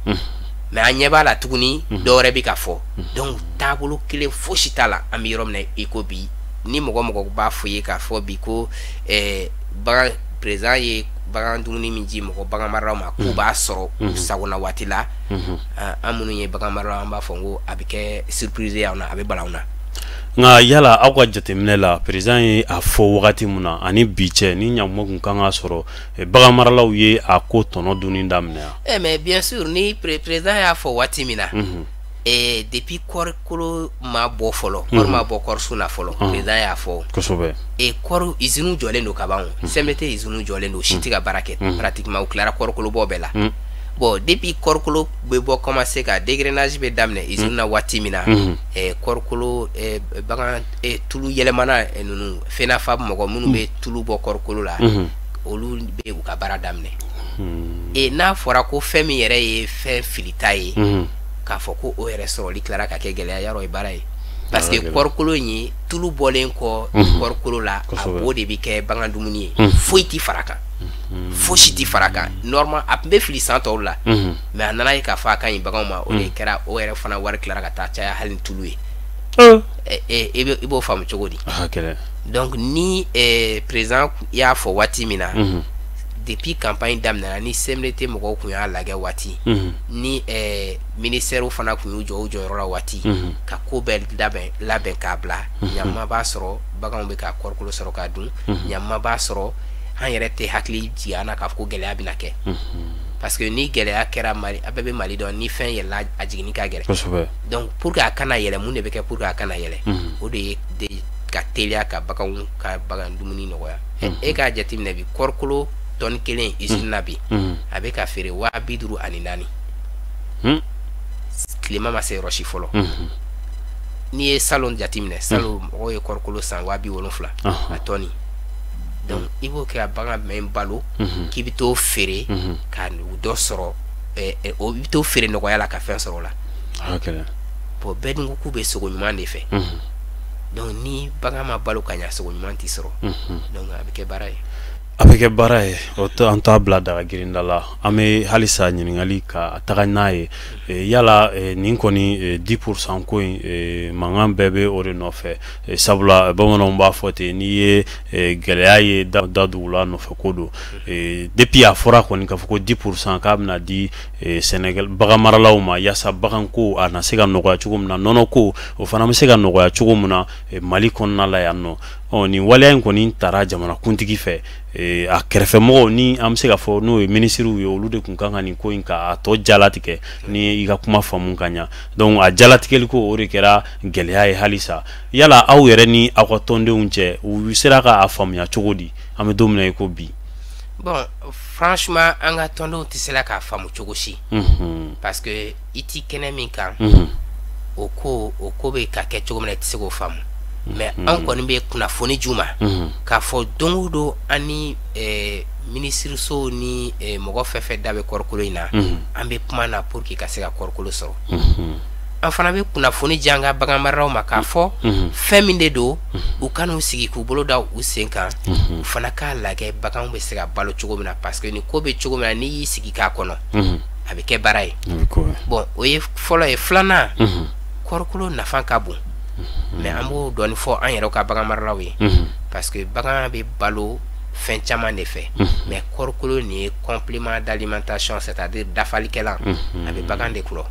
mais an ɲɛ b'a la tuguni dɔ wɛrɛ bɛ ka fɔ donc taabolo kelen fosi t'a la an bɛ yɔrɔ min na i ko bi ni mɔgɔ o mɔgɔ b'a fɔ i ye k'a fɔ bi ko eh, bagan président ye bagan dumuni min ji mɔgɔ bagan maralaw ma k'u b'a sɔrɔ u sagona waati la an minnu ye bagan maralaw an b'a fɔ ko a bɛ kɛ surprise ye anw na a bɛ bala anw na nka yala aw ka jateminɛ la président ye a fɔ wagati min na ani bi cɛ ni ɲakuma tun kan ka sɔrɔ eh, bagan maralaw ye a ko tɔnɔ dunni daminɛ yan. ɛ eh, mais bien sûr ni président y'a fɔ waati min na. Mhm. ee eh, depuis kɔɔri kolo ma bɔ fɔlɔ. Mhm. kɔɔri ma bɔ kɔɔri sun na fɔlɔ. Mhm. perez y'a fɔ. kosɛbɛ. ee kɔɔri iziniw jɔlen don ka ban o. CMDT iziniw jɔlen don si tɛ ka baara kɛ. pratiquement u tilara kɔɔri kolo bɔ bɛɛ la. bon depuis kɔɔri kolo bɛ bɔ commencer ka dégrenage bɛ daminɛ izini na waati min na. eh, kɔrikolo eh, bagan eh, tulu yɛlɛmana eh, ninnu FENAPHAB mɔgɔ minnu bɛ tulu bɔ kɔrikolo la mhm. olu bɛ u ka baara daminɛ hmm. e n'a fɔra ko fɛn min yɛrɛ ye fɛn filita ye mhm. k'a fɔ ko o yɛrɛ sɔrɔli tilara ka kɛ gɛlɛya yɔrɔ ye baara ye parce que kɔrikolo in ye tulu bɔlen kɔ mhm. kɔrikolo la a bo de bɛ kɛ bagan dumuni ye foyi tɛ fara kan fosi tɛ fara kan normal a tun bɛ fili san tɔw la mais a nana ye k'a fɔ a ka ɲi baganw ma o de mm. kɛra o yɛrɛ fana wari tilara ka taa caya hali ni tulu ye oh. e, e, e i b'o faamu cogo di ah, donc ni président y'a fɔ waati min na mm-hmm. depuis campagne daminɛna ni CMDT mɔgɔw kun y'a lagɛ waati mm-hmm. ni ministɛriw fana kun y'u jɔ u jɔyɔrɔ la waati mm-hmm. ka ko bɛɛ labɛn k'a bila ɲama b'a sɔrɔ baganw bɛ ka kɔrikolo sɔrɔ k'a dun ɲama b'a sɔrɔ an yɛrɛ tɛ hakili jigin an na k'a fɔ ko gɛlɛya bɛna kɛ parce que ni gɛlɛya kɛra mali a bɛɛ bɛ mali dɔn ni fɛn yɛlɛla a jiginni ka gɛlɛn donc pour que a kana yɛlɛ mun de bɛ kɛ pour que a kana yɛlɛ mhm. o de ye ka teliya ka baganw ka bagan dumuni nɔgɔya mhm. e k'a jateminɛ bi kɔrikolo tɔni kelen usine na bi mhm. a bɛ ka feere waa bi duuru ani naani hmm. tilema ma se yɔrɔ si fɔlɔ n'i ye salon jateminɛ salon mɔgɔw ye kɔrikolo san waa bi wolonfila a tɔni donc i b'o kɛ ka bagan min balo mhm. k'i bɛ t'o feere mhm. ka dɔ sɔrɔ eh, eh, o bɛ t'o feere nɔgɔya la ka fɛn sɔrɔ o la ah, bon bɛɛ dun ko k'u bɛ sogo ɲuman de fɛ mhm. donc ni bagan ma balo ka ɲa sogo ɲuman tɛ sɔrɔ donc a bɛ kɛ baara ye a bɛ kɛ baara ye o to an t'a bila daga girinda la an bɛ halisa ɲininkali ka taga n'a ye eh, yala nin kɔni 10 pourcent ko in mankan bɛɛ bɛ o de nɔfɛ Eh, sabula bamananw b'a fɔ ten n'i ye eh, gɛlɛya ye da dugu la nɔfɛ ko don eh, depuis a fɔra kɔni k'a fɔ ko 10 pourcent k'a bɛna di sɛnɛkɛla bagan maralaw ma yaasa baganko a na se ka nɔgɔya cogo min na nɔnɔko o fana bɛ se ka nɔgɔya cogo min na mali kɔnɔna la yan nɔ ɔ nin waleya in kɔni tara jamanakuntigi fɛ Eh, a kɛrɛfɛmɔgɔw ni an bɛ se ka fɔ n'o ye minisiriw ye olu de kun kan ka nin ko in ka a tɔ jalatigɛ n y'i ka kuma faamu ka ɲa donc a jalatigɛli ko o de kɛra gɛlɛya ye halisa yala aw yɛrɛ ni aw ka tɔndenw cɛ u sera ka a faamuya cogo di an bɛ don min na i ko bi bon franchement an ka tɔndenw tɛ sera k'a faamu cogo si mhm. parce que i tɛ kɛnɛ min kan mhm. o ko o ko bɛ ka kɛ cogo min na i tɛ se k'o faamu mais mhm. an kɔni bɛ kunnafoni d'u ma k'a fɔ don o don an ni eh, minisiriso ni eh, mɔgɔ fɛn fɛn da bɛ kɔrikolo in na mhm. an bɛ kuma na pour que ka se ka kɔrikolo sɔrɔ mhm. an fana bɛ kunnafoni di an ka bagan maralaw ma k'a fɔ mhm. fɛn min de don u kana u sigi k'u bolo da u sen kan u fana k'a lajɛ baganw bɛ se ka balo cogo min na parce que ni ko bɛ cogo min na n'i y'i sigi k'a kɔnɔ a bɛ kɛ baara ye bon o ye fɔlɔ ye filanan kɔrikolo nafa ka bon mais an b'o dɔɔni fɔ an yɛrɛ ka bagan maralaw ye parce que bagan bɛ balo fɛn caman de fɛ mais kɔrikolo nin ye complément d'alimentation c'est à dire dafalikɛla a bɛ bagan de tulɔ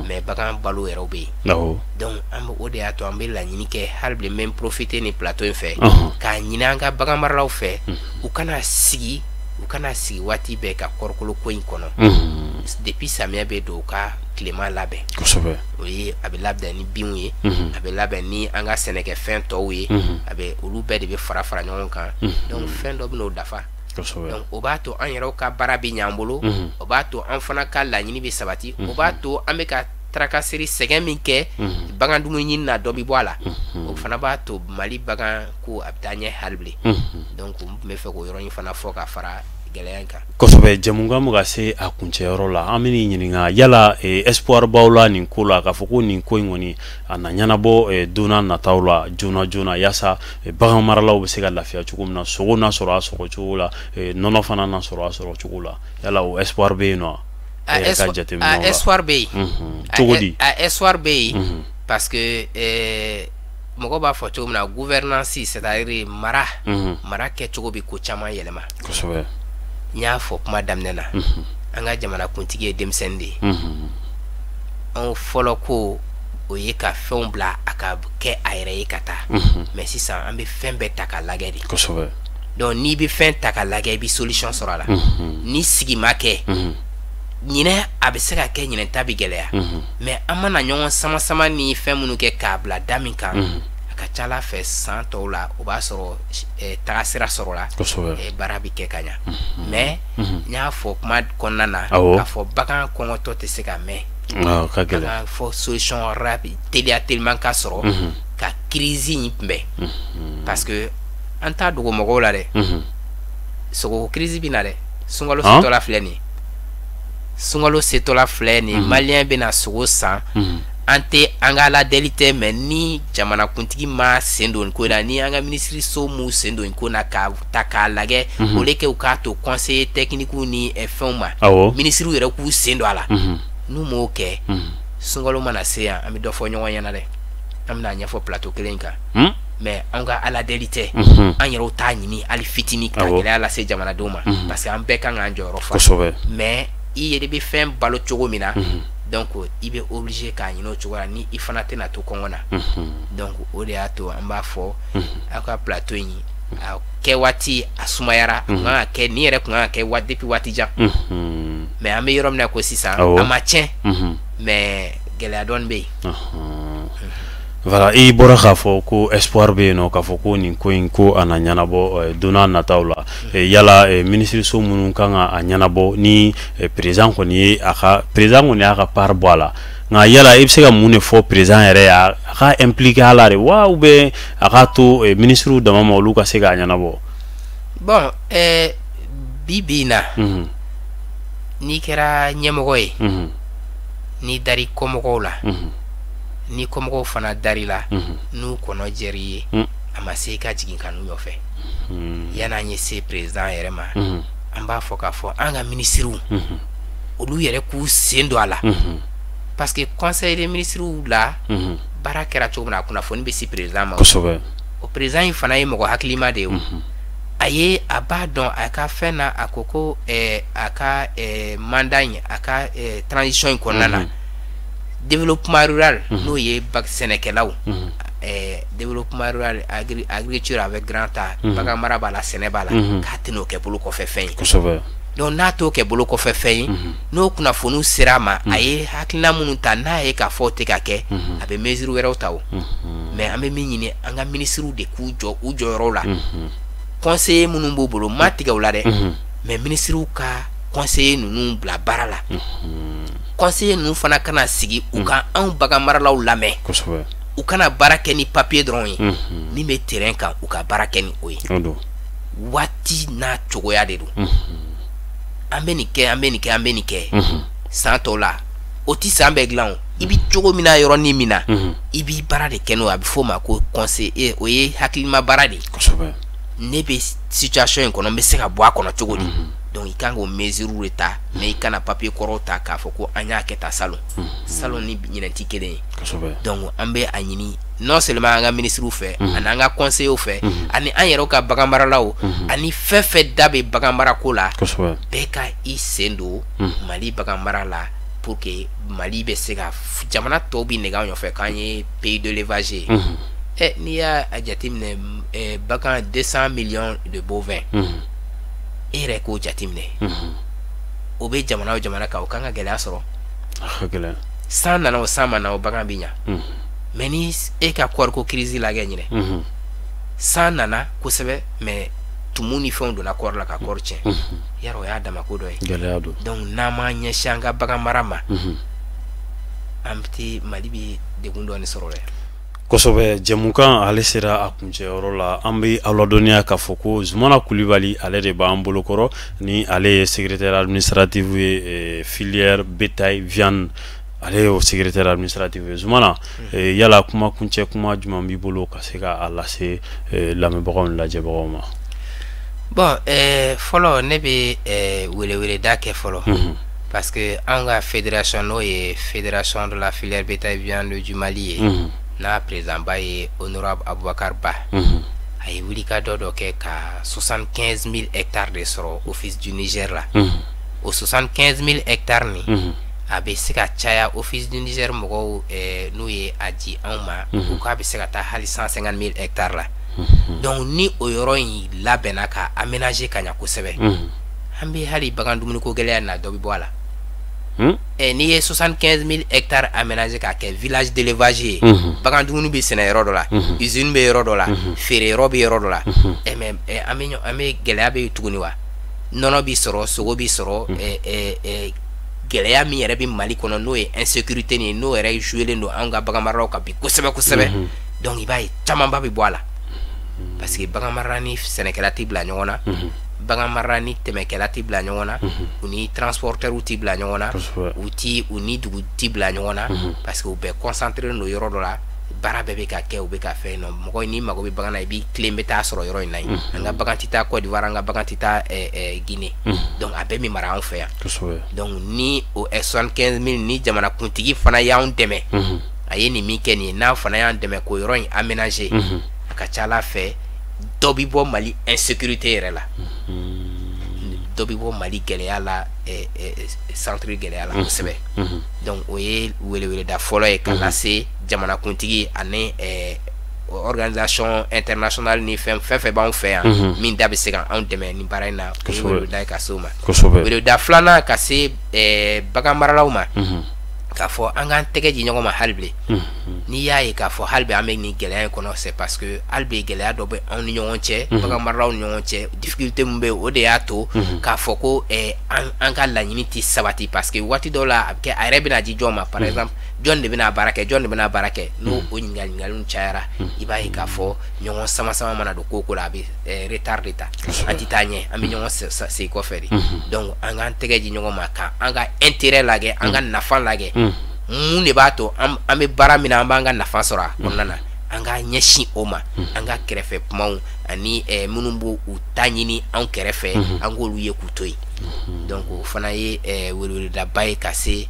mais bagan balo yɛrɛ bɛ yen donc an bɛ o de y'a to an bɛ laɲini kɛ hali bilen n bɛ profiter nin plateau in fɛ k'a ɲini an ka bagan maralaw fɛ u kana sigi u kana sigi waati bɛɛ ka kɔrikolo ko in kɔnɔ depuis samiya bɛ don u ka tilema labɛn o ye a bɛ labɛn ni binw ye a bɛ labɛn ni an ka sɛnɛkɛfɛn tɔw ye a bɛ olu bɛɛ de bɛ fara fara ɲɔgɔn kan donc fɛn dɔ bɛn'o dafa donc o b'a to an yɛrɛw ka baara bɛ ɲ'an bolo o b'a to an fana ka laɲini bɛ sabati o b'a to an bɛ ka tracasserie sɛgɛn min kɛ bagan dumuni ɲini na dɔ bɛ bɔ a la o fana b'a to mali bagan ko a bɛ taa ɲɛ hali bilen donc n tun b'a fɛ k'o yɔrɔ in fana fɔ ka fara gɛlɛya kan kosɛbɛ jɛmukan bɛ ka se a kuncɛyɔrɔ la an bɛn'i ɲininka yala espoir b'aw la nin ko la k'a fɔ ko nin ko in kɔni a na ɲɛnabɔ eh, don na nataw la joona joona yaasa eh, bagan maralaw bɛ se ka lafiya cogo min na sogo na sɔrɔ a sɔrɔ cogo la eh, nɔnɔ fana na sɔrɔ a sɔrɔ cogo la yala o espoir bɛ yen nɔ a yɛrɛ ka jateminɛw la espoir bɛ yen cogo di a espoir bɛ yen parce que mɔgɔ b'a fɔ cogo min na gouvernance c'est à dire mara mara kɛcogo bɛ ko caman yɛlɛma kosɛbɛ n y'a fɔ kuma daminɛ na an ka jamanakuntigi ye denmisɛnnin de ye anw fɔlɔ ko o ye ka fɛnw bila a ka kɛ a yɛrɛ ye ka taa mais sisan an bɛ fɛn bɛɛ ta ka lajɛ de donc n'i bɛ fɛn ta ka lajɛ i bɛ solution sɔrɔ a la ni sigi ma kɛ ɲinɛ a bɛ se ka kɛ ɲinɛ ta bɛ gɛlɛya mais an mana ɲɔgɔn sama sama ni fɛn minnu kɛ k'a bila da min kan a ka ca ala fɛ san tɔw la o b'a sɔrɔ tagasira sɔrɔla baara bɛ kɛ ka ɲɛ mais n y'a fɔ kuma kɔnɔna na k'a fɔ bagan kɔngɔtɔ tɛ se ka mɛn ka gɛlɛn fɔ solution rapide teliya teliman ka sɔrɔ ka crise in kunbɛn parce que an t'a dogo mɔgɔw la dɛ sogo crise bɛ na dɛ sunkalo setɔla filɛ nin sunkalo setɔla filɛ nin malien bɛna sogo san an tɛ an ka ala deli tɛ mais ni jamanakuntigi m'a sen don ko la ni an ka minisiriso m'a sen don ko in na ka ta k'a lajɛ o de kɛ u k'a to conseillers techniques ni fɛnw ma minisiriw yɛrɛ k'u sen don a la n'u m'o kɛ sunkalo mana se yan an bɛ dɔ fɔ ɲɔgɔn ɲɛna dɛ an bɛna a ɲɛfɔ plateau kelen kan mais an ka ala deli tɛ an yɛrɛw t'a ɲini hali fitinin ka gɛlɛya lase jamanadenw ma parce que an bɛɛ kan k'an jɔyɔrɔ fa mais i yɛrɛ bɛ fɛn balo cogo min na donc i bɛ obligé k'a ɲini o cogo la ni i fana tɛna to kɔngɔ na donc o de y'a to an b'a fɔ aw ka plateau in kɛ waati a sumayara a kun kan ka kɛ nin yɛrɛ kun kan ka kɛ waati depuis waati jan mais an bɛ yɔrɔ min na ko sisan a ma tiɲɛ mais gɛlɛya dɔɔnin bɛ yen voilà i bɔra k'a fɔ ko espoir bɛ yen nɔn k'a fɔ ko nin ko in ko a na ɲɛnabɔ don nataw la yala minisiririso minnu kan ka a ɲɛnabɔ ni président kɔni ye a ka président kɔni y'a ka part bɔ a la nka yala i bɛ se ka mun de fɔ président yɛrɛ a ka impliquer a la de wa ou bien a k'a to eh, minisiriw dama ma olu ka se k'a ɲɛnabɔ bon eh, bi bi na mhm. n'i kɛra ɲɛmɔgɔ ye mhm. n'i dar'i kɔmɔgɔw la mhm. ni kɔmɔgɔw fana dar'i la n'u kɔnɔ jɛr'i ye mm. a ma se i ka jigin ka n'u nɔfɛ mm. yan'an ye se président yɛrɛ ma an b'a fɔ k'a fɔ an ka minisiriw olu yɛrɛ k'u sen don a la parce que conseil des ministres la baara kɛra cogo min na a kunnafoni bɛ se président ma o président in fana ye mɔgɔ hakilima de ye a ye a b'a dɔn a ka fɛn na a ko ko a ka mandat in a ka transition in kɔnɔna na développement rural n'o ye ba sɛnɛkɛlaw développement rural agriculture avec grand A bagan mara b'a la sɛnɛ b'a la k'a tɛn'o kɛ bolo kɔfɛ fɛn ye donc n'a t'o kɛ bolo kɔfɛ fɛn ye n'o kunnafoniw sera a ma a ye hakilina minnu ta n'a ye k'a fɔ o tɛ ka kɛ a bɛ mesure wɛrɛw ta o mais an bɛ min ɲini an ka minisiriw de k'u jɔ u jɔyɔrɔw la conseillers minnu b'u bolo ma tigɛ u la dɛ mais minisiriw ka conseillers ninnu bila baara la conseillers ninnu fana kana sigi u ka anw bagan maralaw lamɛn u kana baara kɛ ni papier dɔrɔn ye min bɛ terrain kan u ka baara kɛ ni o ye waati n'a cogoya de don an bɛ nin kɛ an bɛ nin kɛ an bɛ nin kɛ san tɔw la o tɛ san bɛɛ dilan o i bɛ cogo min na yɔrɔnin min na i b'i baara de kɛ n'o a bɛ f'o ma ko conseiller o ye hakilima baara de ye ne bɛ situation in kɔnɔ n bɛ se ka bɔ a kɔnɔ cogo di donc i kan k'o mesure de ta mais i kana papier kɔrɔw ta k'a fɔ ko an y'a kɛ tan salon salon ni ɲinɛ tɛ kelen ye donc an bɛ a ɲini non seulement an ka minisiriw fɛ mhm. ani an ka conseillers fɛ mhm. ani an yɛrɛw ka bagan maralaw mhm. ani fɛn fɛn da bɛ bagan marako la bɛɛ ka i sen don mali bagan mara la pour que mali bɛ se ka jamana tɔw bɛ nɛgɛ an nɔfɛ k'an ye pays de l'élevage ye ɛ n'i y'a jateminɛ ɛ bagan deux cent millions de bovins e yɛrɛ k'o jateminɛ o bɛ jamana o jamana kan o kan ka gɛlɛya sɔrɔ san nana o san ma na o bagan bɛ ɲa. mais ni e ka kɔɔriko crise lagɛ ɲinan mhm. san nana kosɛbɛ mais tumu ni fɛnw donna kɔɔri la ka kɔɔri tiɲɛ mhm. yara o y'a damako dɔ ye donc n'an m'an ɲɛsin an ka bagan mara ma mhm. an bɛ mali bɛ degun dɔɔni sɔrɔ dɛ kosɛbɛ jɛmukan ale sera a kuncɛyɔrɔ la an bɛ aw ladɔnniya k'a fɔ ko zumana kulibali ale de b'an bolokɔrɔ ni ale ye secrétaire administratif ye eh, filière bétail viande ale y'o secrétaire administratif ye Zumana eh, yala kuma kuncɛ kuma jumɛn b'i bolo ka se k'a lase eh, lamɛnbagaw ni lajɛbagaw ma bon eh, fɔlɔ ne bɛ eh, weleweleda kɛ fɔlɔ mm -hmm. parce que an ka fédération n'o ye fédération de la filière bétail viande du Mali ye mm -hmm. n'a présidentba ye honorable Abubakar Ba mm -hmm. a ye wulikajɔ dɔ kɛ ka 75 000 hectares de sɔrɔ office du Niger la mm -hmm. o 75 000 hectares nin mm -hmm. a bɛ se ka caya office du Niger mɔgɔw ɛɛ n'u ye a di anw ma. Unhun. U k'a bɛ se ka taa hali 150000 hectares la. Unhun. Donc ni o yɔrɔ in labɛnna ka aménager ka ɲɛ kosɛbɛ. Unhun. An bɛ hali bagan dumuniko gɛlɛya in na dɔ bɛ bɔ a la. Un! Ɛ n'i ye 75000 hectares aménager k'a kɛ village d'élevage ye. Unhun. Bagan dumuni bɛ sɛnɛ yɔrɔ dɔ la. Unhun. Usine bɛ yɔrɔ dɔ la. Unhun. Feere yɔrɔ bɛ yɔrɔ dɔ la. Unhun. Ɛ mais ɛ an bɛ ɲɔ an bɛ gɛlɛya bɛ yen tuguni wa? Nɔnɔ bɛ sɔrɔ, sogo bɛ sɔrɔ. Ɛ ɛ ɛ gɛlɛya min yɛrɛ bɛ mali kɔnɔ n'o ye insécurité nin ye n'o yɛrɛ jouelen don anw ka baganmaralaw kan bi kosɛbɛ kosɛbɛ mhm. donc i b'a ye camanba bɛ bɔ a la mhm. parce que baganmarala ni sɛnɛkɛla tɛ bila ɲɔgɔn na mhm. baganmarala ni tɛmɛkɛla tɛ bila ɲɔgɔn na u ni transportɛriw tɛ bila ɲɔgɔn na u ti u ni dugu tɛ bila ɲɔgɔn na parce que u bɛɛ concentré don yɔrɔ dɔ la baara bɛɛ bɛ ka kɛ u bɛ ka fɛn nɔ mɔgɔ n'i mago bɛ bagan na i b'i tilen bɛ taa sɔrɔ yɔrɔ in na yen an ka bagan tɛ taa Côte d'Ivoire an ka bagan tɛ taa Guinée donc a bɛɛ bɛ mara anw fɛ yan donc ni o soixante quinze mille ni jamanakuntigi fana y'an dɛmɛ a ye nin min kɛ nin ye n'a fana y'an dɛmɛ k'o yɔrɔ in aménager a ka ca ala fɛ dɔ bɛ bɔ mali insécurité yɛrɛ la dɔ bɛ bɔ mali gɛlɛya la centre gɛlɛya la kosɛbɛ donc o ye weleweleda fɔlɔ ye ka lase jamanakuntigi ani organisation internationale ni fɛn fɛn fɛn b'anw fɛ yan mhm. min da bɛ se ka anw dɛmɛ nin baara in na o ye weleweleda ye ka se o ma weleweleda filanan ka se eh, bagan maralaw ma mhm. k'a fɔ an k'an tɛgɛ di ɲɔgɔn ma hali bi mhm. n'i y'a ye k'a fɔ hali bi an bɛ nin gɛlɛya in kɔnɔ c'est parce que hali bi gɛlɛya dɔ bɛ anw ni ɲɔgɔn cɛ bagan maralaw ni ɲɔgɔn cɛ difficulté min bɛ o de y'a to k'a fɔ ko eh, an ka laɲini tɛ sabati parce que waati dɔw la a bɛ kɛ a yɛrɛ bɛna di jɔn ma par exemple jɔn de bɛna baara kɛ jɔn de bɛna baara kɛ n'o o ɲininkali cayara i b'a ye k'a fɔ ɲɔgɔn sama sama mana don ko ko la a bɛ eh, retard de ta an tɛ taa ɲɛ an bɛ ɲɔgɔn segin kɔfɛ de donc an k'an tɛgɛ di ɲɔgɔn ma ka an ka intérêt lagɛ an ka nafa lagɛ mun de b'a to an bɛ baara min na an b'an ka nafa sɔrɔ a kɔnɔna na an k'a ɲɛsin o ma an ka kɛrɛfɛ kumaw ani eh, minnu bɛ u ta ɲini an kɛrɛfɛ an k'olu ye k'u to yen donc o fana ye eh, weleweledaba ye ka se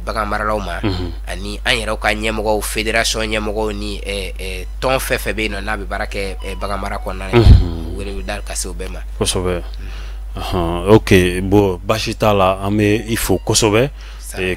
bagan maralaw ma ani an yɛrɛw ka ɲɛmɔgɔw fédération ɲɛmɔgɔw ni tɔn fɛn fɛn bɛ yen nɔ n'a bɛ baara kɛ bagan mara kɔnɔna na weleweleda ka se o bɛɛ ma kosɛbɛ ok bon baasi t'a la an bɛ i fo kosɛbɛ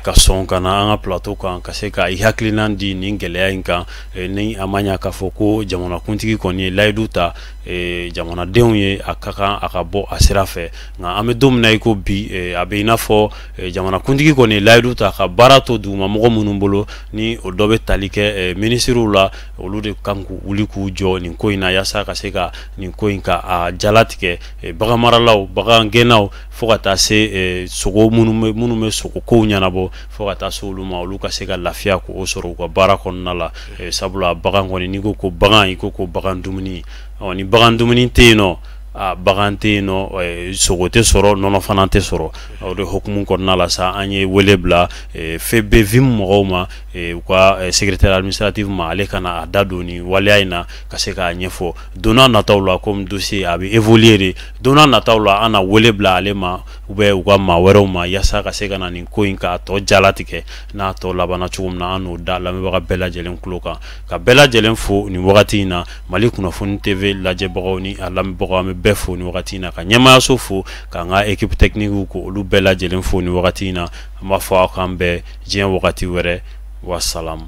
ka sɔn ka na an ka plateau kan ka se ka i hakilinan di nin gɛlɛya in kan ni a ma ɲɛ k'a fɔ ko jamanakuntigi kɔni ye layidu ta jamanadenw ye a ka kan a ka bɔ a sira fɛ nka an bɛ don min na i ko bi a bɛ i n'a fɔ Eh, jamanakuntigi kɔni layidu ta ka baara to duguma mɔgɔ minnu bolo ni o dɔ bɛ tali kɛ eh, minisiriw la olu de kan k'u wuli k'u jɔ nin ko in na yaasa ka se ka nin ko in ka a jala tigɛ eh, bagan maralaw bagan gɛnnaw fo ka taa se sogo minnu bɛ minnu bɛ sogo kow ɲɛnabɔ fo ka taa se olu ma olu ka se ka lafiya k'o sɔrɔ u ka baara kɔnɔna la sabula bagan kɔni n'i ko ko bagan i ko ko bagan dumuni ɔ ni bagan dumuni tɛ yen nɔ Bagan tɛ yen nɔ sogo tɛ sɔrɔ nɔnɔ fana tɛ sɔrɔ o de hukumu kɔnɔna la sa an ye wele bila FEBEVIM mɔgɔw ma u ka secrétaire administratif ma ale ka na a da don nin waleya in na ka se k'a ɲɛfɔ donna nataw la comme dossier a bɛ évoluer de donna nataw la an na wele bila ale ma ou bien u ka maa wɛrɛw ma yaasa ka se ka na nin ko in k'a tɔ jala tigɛ n'a tɔ labanna cogo min na an n'o da lamɛnbaga bɛɛ lajɛlen tulo kan ka bɛɛ lajɛlen fo nin wagati in na Mali kunnafoni TV lajɛbagaw ni a lamɛnbagaw an bɛ bɛɛ fo ni wagati in na ka ɲɛmaayaso fo k'an ka équipe technique ko olu bɛɛ lajɛlen fo ni wagati in na an b'a fɔ aw k'an bɛn diɲɛ wagati wɛrɛ wasalamu